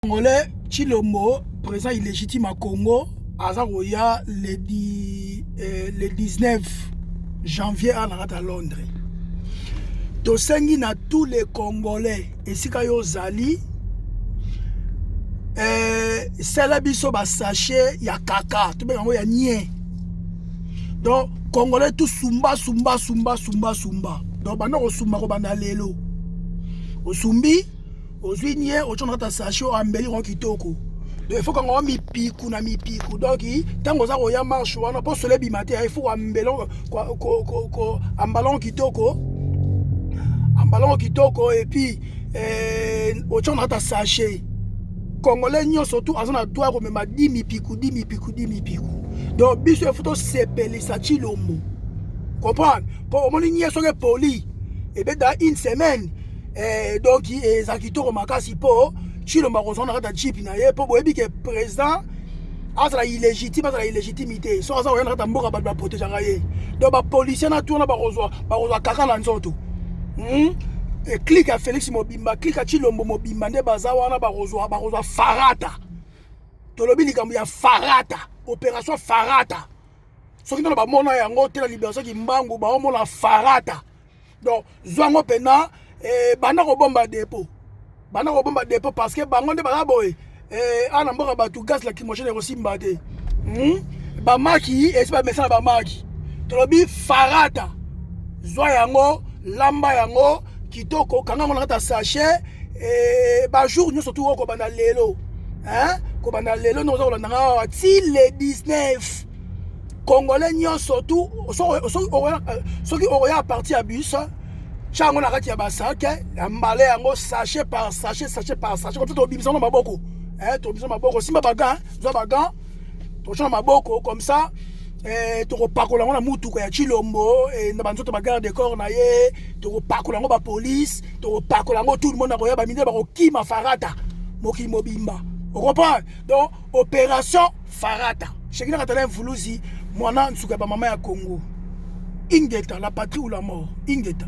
Congolais Chilombo président illégitime à Congo aza koya le, di, eh, le 19 janvier awa na kati ya Londres. Tosengi na tous les Congolais esika yo ozali eh, sala biso ba sachet ya kaka tobenga yango ya nie donc congolais tout sumba sumba sumba sumba sumba donc banda kosumba kobanda lelo osumbi ozwi nie otyo na kati ya sache oyo ambeli yango kitoko efo kanga wa mipiku na mipiku donc ntango oza koya marche wana mpo solo ebima te efo koambelon ambalon kitoko ambalon kitoko epuis eh, otyo na kati ya sache congolais nyonso tu aza na droit ya komema di mipiku di mipiku di mipiku donc biso efo tosepelisa tshilombo comprendre mpo omoni nie soki epoli ebeda une semaine eh, donc eh, eza kitoko makasi mpo chilombo akozwa na kati ya jipe na ye mpo boyebi ke président azala illégitime azala illégitimité soki aza koya na kati ya mboka bato baprotegeaka ye donc bapolicier na tourna bakozwa bakozwa kaka na nzoto hmm? e clike ya félix mobimba clike ya chilombo mobimba nde baza wana bakozwa bakozwa farata tolobi likambo ya farata opération farata soki nano bamona yango te na libération kimbangu baomona farata donc zwa yango mpena eh, banda kobomba depo banda kobomba depo parce que bango nde baza boye eh, awa na mboka bato gaz lacrymogène ekosimba te hmm? bamaki esi bamesana bamaki tolobi farata zwa yango lamba yango kitoko kanga yango na kati ya sachet eh, bajour nyonso tu okobanda lelo kobanda lelo nde oza kolanda nga awa ti le 19 congolais nyonso tu soki okoya parti ya bus tya yango na kati ya basake ya mbale yango sachet par sachet sachet par sachet koto tobimisa yango maboko eh, tobimisa maboko simba bagan zwa bagan totyana maboko comme ça eh, tokopakola yango na motuka ya chilombo eh, na banzoto bagarde de corps na ye tokopakola yango bapolice tokopakola yango tout le monde akoya bamindele bakokima farata mokili mobimba okomprendre donc operation farata shekina katala mvuluzi mwana nsuka ya bamama ya congo ingeta la patrie ou la mort ingeta